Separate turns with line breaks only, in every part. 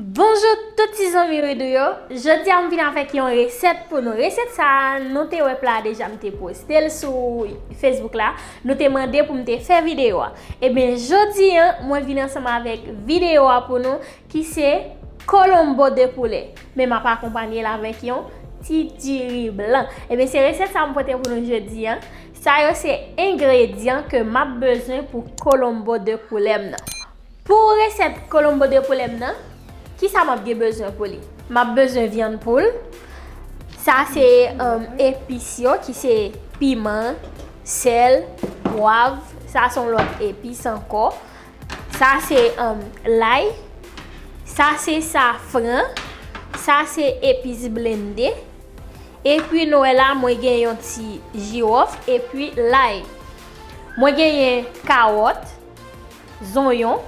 Bonjour tout ti zanmi Ridou yo, jodi a m vin avèk yon resèt pou nou, resèt sa nou te wè pla a deja m te poste l sou Facebook la, nou te mande pou m te fè videyo a, ebyen jodi an mwen vin ansanm avèk videyo a pou nou ki se colombo de poulet men m ap akonpanye l avèk yon ti diri blan, ebyen se resèt sa m pote pou nou jodi an, sa yo se engredyan ke m ap bezwen pou colombo de poulet m nan. Pou resèt colombo de poulet m nan, kisa map gen bezwen pou li? Map bezwen vyann poul, sa se epis yo ki se piman, sèl, pwav, sa son lòt epis ankò, sa se lay, sa se safran, sa se epis blende, epi nou wè la mwen gen yon ti jiwòf epi lay. Mwen genyen kawòt. zonyon,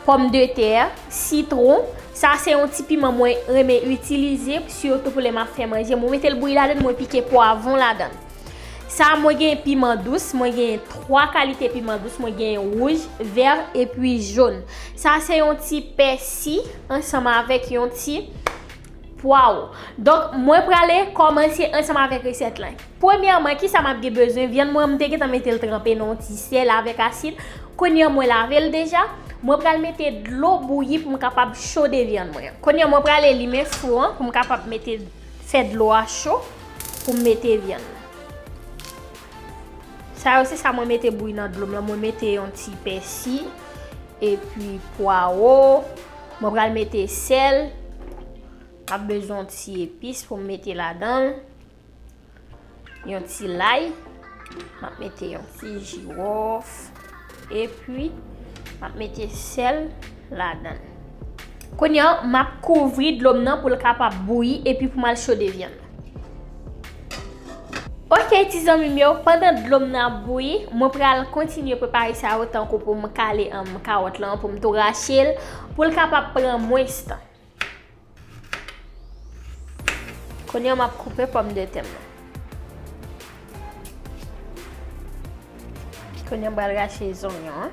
pòm de tè, sitron, sa se yon ti piman mwen renmen itilize sitou pou lè map fè manje, mwen metel bouyi ladann mwen pike pwavon ladann. Sa mwen gen piman dous, mwen gen 3 kalite piman dous, mwen gen wouj, vè epi joun. Sa se yon ti pèsi ansanm avèk yon ti Pwaw. Donk mwen prale kòmanse ansanm avèk resèt lan. Premyèman kisa map gen bezwen, vyann mwen an mte gentan metel tranpe nan yon ti sèl avèk asid, kounye an mwen lavel deja, mwen pral mete dlo bouyi poum kapab chode vyann mwen an. Kounye an mwen prale limen fou an poum kapab mete fè dlo a cho poum mete vyann nan. Sa yo se sa mwen mete bouyi nan dlom lan, mwen mete yon ti pèsi epi pwawo. Mwen pral mete sèl. Map bezwen yon ti epis pou m mete ladan. Yon ti lay. Map mete yon ti jiwof. E pi, map mete sèl ladan. Kounye an, map kouvri dlo m nan pou l kapab bouyi e pi pou m al chode vyann. Ok ti zanmim yo, pandan dlo m nan ap bouyi, mwen pral kontinye prepare sa yo tankou pou m kale kawòt lan, pou m tou rache l, pou l kapab pran mwens tan. Kounye a m ap koupe pòmdetè m nan. Kounye a m pral rache zonyon an.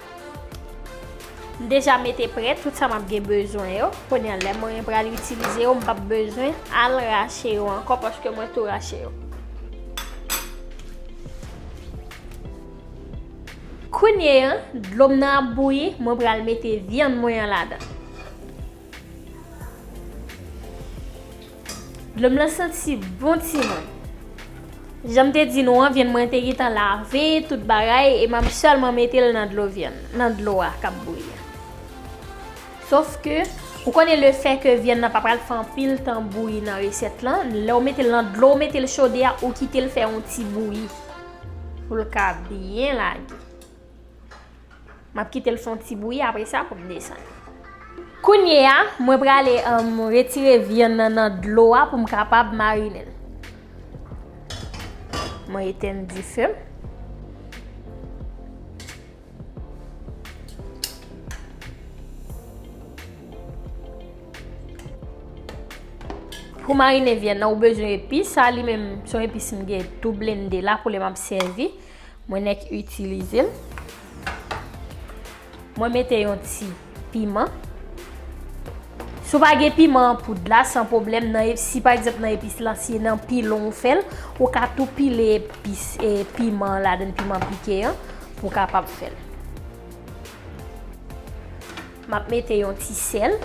M deja mete prè tout sa map gen bezwen yo. Kounye an lè mwen pral itilize yo m pap bezwen al rache yo ankò paske mwen tou rache yo. Kounye an dlo m nan ap bouyi mwen pral mete vyann mwen an ladan. Dlom lan santi bon timoun. Janm te di nou an vyann mwen te gentan lave tout bagay e map selman metel nan dlo vyann nan dlo a kap bouyi a. Sof ke ou konnen le fè ke vyann nan pa pral fè anpil tan bouyi nan resèt lan, lèw metel nan dlo ou metel chode a ou kitel fè yon ti bouyi poul ka byen lage. M ap kite l fè yon ti bouyi apre sa pou m desann. Kounye a, mwen prale retire vyann nan nan dlo a pou m kapab marinen l. Mwen etenn dife m. Pou marinen vyann nan ou bezwen epis. Sa li menm son epis m gen tou blende la pou lè m ap sèvi. Mwen nèk itilize l. Mwen mete yon ti piman. Si w pa gen piman an poud la, san pwoblèm. Si pa egzanp nan epis lan, si nan pilon ou fè l, ou ka tou pile epis e piman ladan l, piman pike an, pou w kapab fè l. M ap mete yon ti sèl.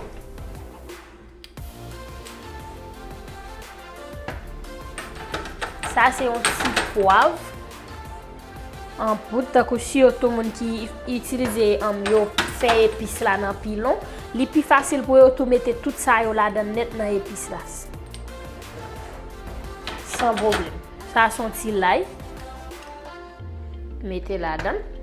Sa se yon ti pwav. An poud tankou si yo tou moun ki itilize an yo fè epis la nan pilon. Li pi fasil pou yo tou mete tout sa yo la dan net nan epis la. San problem. Sa son ti lay. Mete ladan l.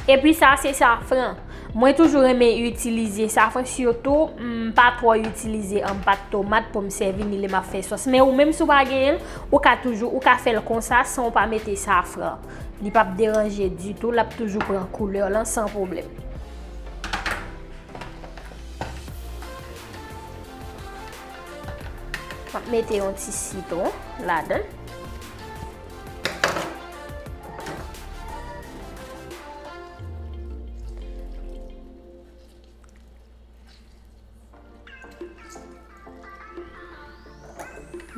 E pi sa se safran. Mwen toujou renmen itilize safran sitou m pa twò itilize an pat tomat pou m sèvi ni lè m ap fè sòs. Men ou menm si w pa genyen l, ou ka toujou, ou ka fè l konsa san w pa mete safran. Li p ap deranje ditou, l ap toujou pran koulè lan san pwoblèm. M ap mete yon ti sitwon ladan l.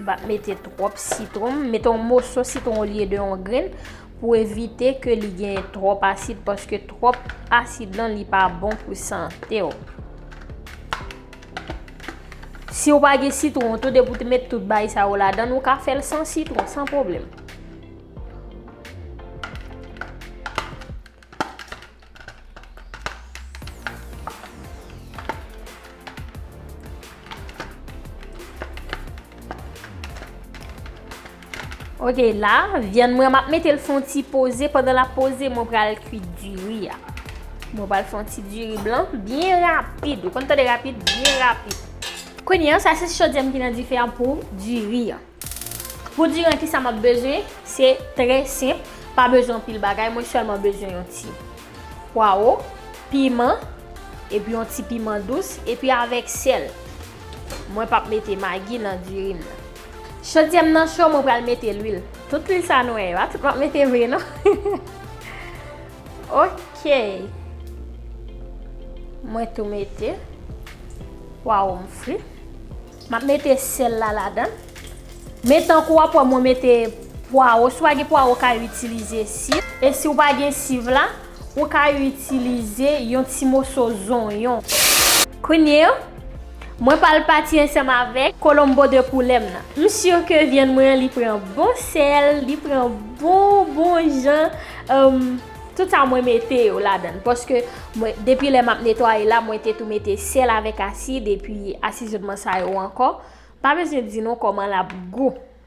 Ba mete trop sitron, mete yon moso sitron olye de yon gren pou evite ke li gen trop asid paske trop asid lan li pa bon pou sante yo. Si ou pa gen sitron tou depi ou te met tout bay sa yo ladan ou ka fèl san sitron san pwoblèm. Ok la vyann mwen map mete l fon ti poze pandan lap poze mwen pral kwit diri a mwen pral fon ti diri blan byen rapid ou konn tande rapid byen rapid. Kounye an sa se chodyèm ki nan dife an pou diri an pou diri an kisa map bezwen se trè senp pa bezwen anpil bagay mwen sèlman bezwen yon ti pwawo piman epi yon ti piman dous epi avèk sèl mwen pap mete magi nan diri m nan. Chodyè m nan cho mwen pral mete lwil. Tout lwil sa nou wè yo a tout map mete vre non. Ok. Mwen tou mete pwawo m fri. Map mete sèl la ladan. Men tankou wap wè mwen mete pwawo. Si w pa gen pwawo w ka itilize siv. E si w pa gen siv la. Ou ka itilize yon ti moso zonyon. Kounye a, mwen pral pati ansanm avèk colombo de poulet m nan. M sur ke vyann mwen an li pran bon sèl, li pran bon bon jan humm tout sa mwen mete yo ladan l paske mwen depi lè map netwaye la mwen te tou mete sèl avèk asid epi asizonman sa yo ankò. Pa bezwen di nou kòman lap gou.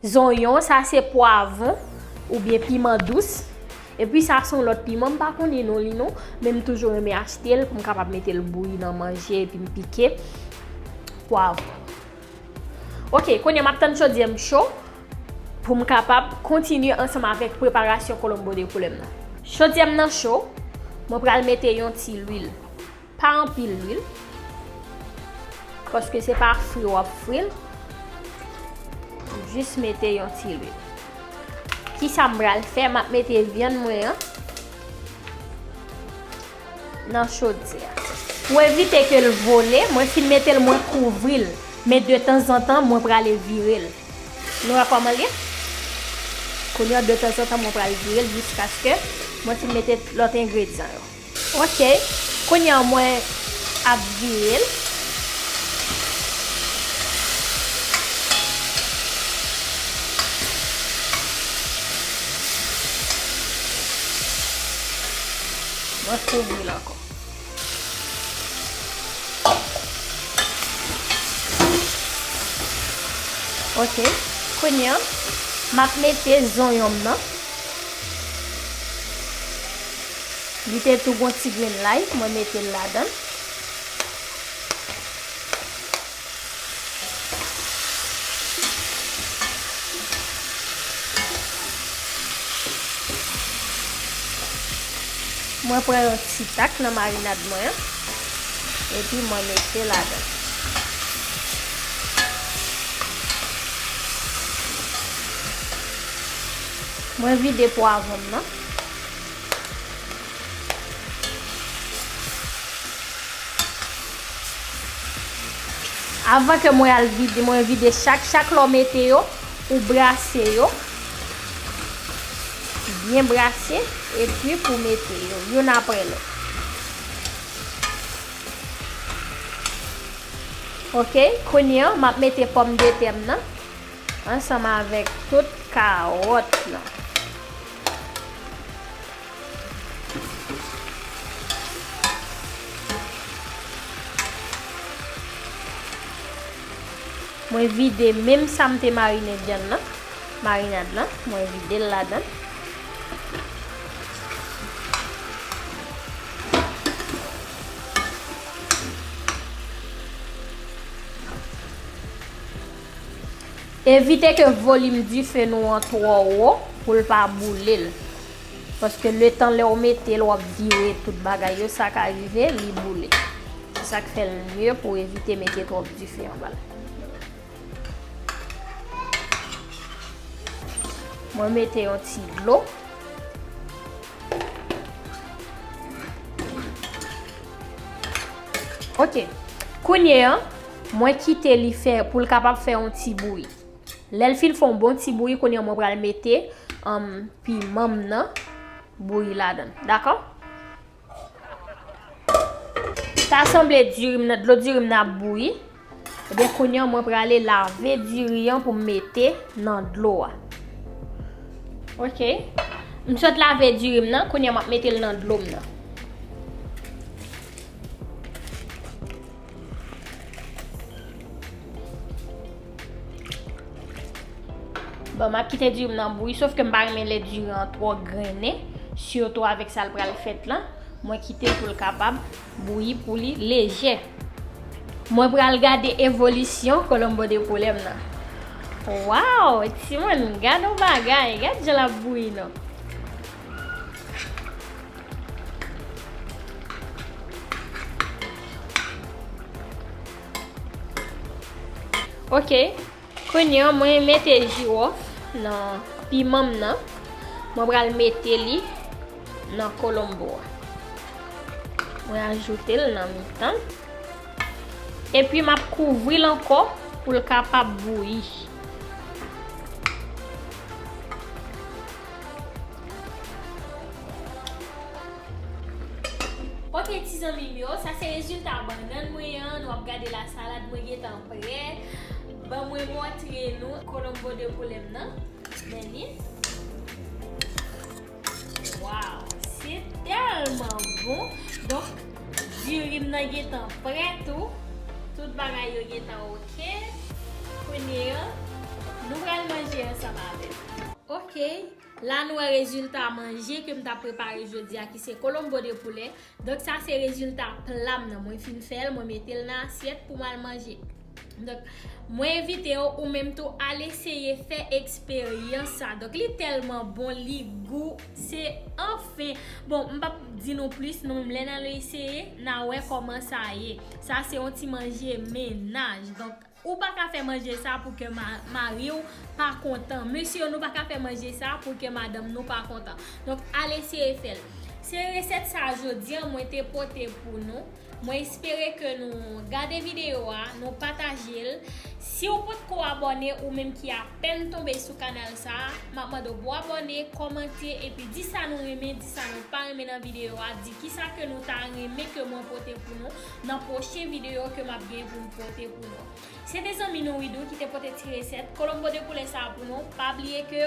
Zonyon sa se pwavon oubyen piman dous. Epi sa son lòt piman m pa konnen non li non, men m toujou renmen achte l pou m kapab mete l bouyi nan manje epi m pike pwavon. Ok, kounye a m ap tann chodyè m cho pou m kapab kontinye ansanm avèk preparasyon colombo de poulet m nan. Chodyè m nan cho, mwen pral mete yon ti lwil. Pa anpil lwil, paske se pa fri w ap fri l. Jis mete yon ti lwil. Kisa m pral fè? M ap mete vyann mwen an nan chodyè a. Pou evite ke l vole, mwen fin mete l mwen kouvri l. Men de tanzantan mwen prale vire l. Nou wè kòman l ye? Kounye an de tanzantan mwen pral vire l jiskaske mwen fin mete lòt engredyan yo. Ok kounye an mwen ap vire l. Mwen kouvri l ankò. Ok kounye an map mete zonyon m nan. Li te tou gon ti grenn lay mwen metel ladann. Mwen pran yon ti tak nan marinad mwen an epi mwen mete ladann. Mwen vide pwavonm nan. Avan ke mwen al vide, mwen vide chak chak lò mete yo, ou brase yo. Byen brase, e pi pou mete yo, youn apre lò. Ok, kounye an, map mete pòm de tèm nan, ansanm avèk tout karòt nan. Mwen vide menm sa m te marine vyann nan, marinad lan, mwen vide l ladan l. Evite ke volim dife nou an twò wo pou l pa boule l. Paske letan lè w mete l w ap vire tout bagay yo sa ka rive li boule. Se sa k fè l mye pou w evite mete twòp dife anba l. Mwen mete yon ti dlo. Ok. Kounye an. Mwen kite li fè poul kapab fè yon ti bouyi. Lèl fin fè yon bon ti bouyi kounye mwen pral mete pimanm nan bouyi ladan. Dakò? Ta sanble diri m nan, dlo diri m nan ap bouyi. Ebyen kounye mwen prale lave diri an pou m mete nan dlo a. Ok. M sot lave diri m nan, kounye mwen ap mete l nan dlo m nan. Bon, m ap kite diri m nan bouyi, sof ke m pa renmen lè diri an twò grennen, sitou avèk sa l pral fèt lan, mwen kite l pou l kapab bouyi pou li lejè. Mwen pral gade evolisyon kolonbo de poulè m nan. Waww, timoun, gad yon bagay, gad jan l ap bouyi non. Ok, kounye an mwen mete jirof nan piman m nan. Mwen pral mete li nan kolombo a. Mwen ajoute l nan mitan. E pi m ap kouvri l anko pou l kapab bouyi. Ok ti zanmim yo sa se rezilta bannann mwen an nou ap gade la salad mwen gentan prè ban mwen montre nou colombo de poulem nan men li waw se tèlman bon donk dirim nan gentan prè tou tout bagay yo gentan ok. Ok kounye an nou pral manje ansanm avèm. Ok la nou wè rezilta manje kem ta prepare jodi a ki se colombo de poulet donk sa se rezilta plam nan mwen fin fèl mwen metel nan asyèt pou mwen al manje donk mwen envitew ou menm tou al eseye fè eksperyans sa donk li tèlman bon li gou. Se anfen! Bon, m pap di nou plis nou menm lè n al eseye, n a wè kòman sa ye. Sa se yon ti manje mennaj. Donk, ou pa ka fè manje sa pou kè mari w pa kontan. Mesye yo, nou pa ka fè manje sa pou kè madanm nou pa kontan. Donk, al eseye fè l. Se resèt sa a jodi an mwen te pote pou nou. Mwen espere ke nou gade video a, nou pataje l. Si w potko abòne ou menm ki apèn tonbe sou kanal sa, map mande w pou abòne, kòmante epi di sa nou renmen, di sa nou pa renmen nan video a, di kisa ke nou ta renmen ke mwen pote pou nou nan pwochen video ke map gen pou m pote pou nou. Se te zanmi nou Widoo ki te pote ti resèt Colombo de koulè sa pou nou. Pa bliye ke.